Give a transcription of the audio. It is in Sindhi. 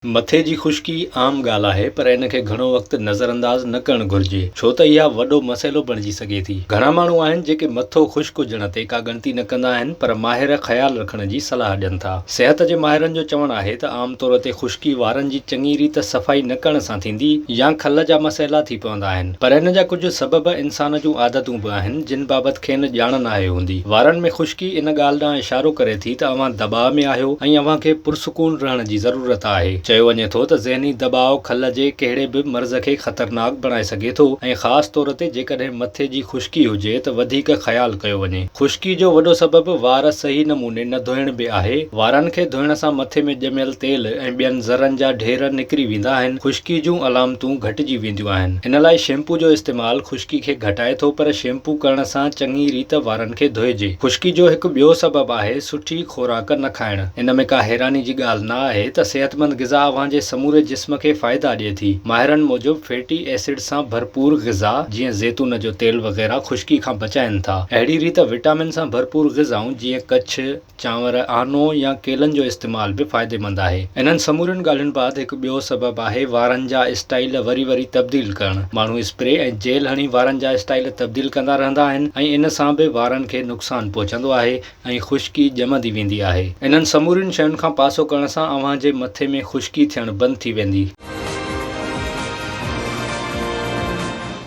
مٿي جي خشڪي عام ڳالهه آهي پر ان کي گهڻو وقت نظرانداز نه ڪرڻ گهرجي ڇو ته اها وڏو مسئلو بڻجي سگهي ٿي. گهڻا ماڻهو آهن جيڪي مٿو خشڪ هجڻ تي ڪا ڳڻتي نه ڪندا آهن پر ماهر خيال رکڻ جي صلاح ڏين ٿا. صحت جي ماهرن جو چوڻ آهي ته عام طور تي خشڪي وارن جي چڱي ريت صفائي نه ڪرڻ سان ٿيندي يا کل جا مسئلا ٿي پوندا آهن پر ان جا ڪجهه سبب انسان جون عادتون به آهن جن بابت کين ڄاڻ ناهي هوندي. وارن ۾ خشڪي ان ڳالهه ڏانهن اشارو ڪري ٿي ته اوهان دٻاء ۾ آهيو ۽ اوهان کي پرسڪون رهڻ جي ضرورت آهي. چيو وڃي ٿو ته ذهني دٻاء کل جي ڪهڙي به مرض کي خطرناڪ بڻائي سگهي ٿو ۽ خاص طور تي جيڪڏهن مٿي جي خشڪي هجي ته وڌيڪ خيال ڪيو وڃي. خشڪي جو وڏو سبب وار صحيح نموني نه ڌوئڻ به آهي. وارن کي ڌوئڻ سان مٿي ۾ ڄميل تيل ۽ ٻين ذرن جا ڍير نڪري ويندا آهن. خشڪي جون علامتون گهٽجي وينديون. ٿينديون آهن. ان لاء شيمپو جو استعمال خشڪي کي گهٽائي ٿو پر شيمپو ڪرڻ سان چڱي ريت وارن کي ڌوئجي. خشڪي جو هڪ ٻيو سبب آهي سٺي خوراڪ نه کائڻ. ان ۾ ڪا حيراني جي ڳالهه نه آهي ته صحتمند غذا اوهان جي سموري جسم کي فائدا ڏئي ٿي. ماهرن موجب فيٽي ايسڊ سان ڀرپور غذا جيئن زيتون جو تيل وغيره خشڪي کان بچائين ٿا. اهڙي ريت وٽامن سان ڀرپور غذائون جيئن ڪڇ، چانور، آنو يا ڪيلن جو استعمال به فائديمند آهي. انهن سمورين ڳالهين بعد هڪ ٻيو سبب آهي وارن جا اسٽائيل وري وري تبديل ڪرڻ. ماڻهو اسپري ۽ جيل هڻي وارن جا اسٽائيل تبديل ڪندا رهندا آهن ۽ ان سان به وارن کي نقصان پهچندو آهي ۽ خشڪي ڄمندي ويندي آهي. انهن سمورين شين کان پاسو ڪرڻ سان اوهان جي مٿي ۾ خشڪي ٿيڻ بند ٿي ويندي.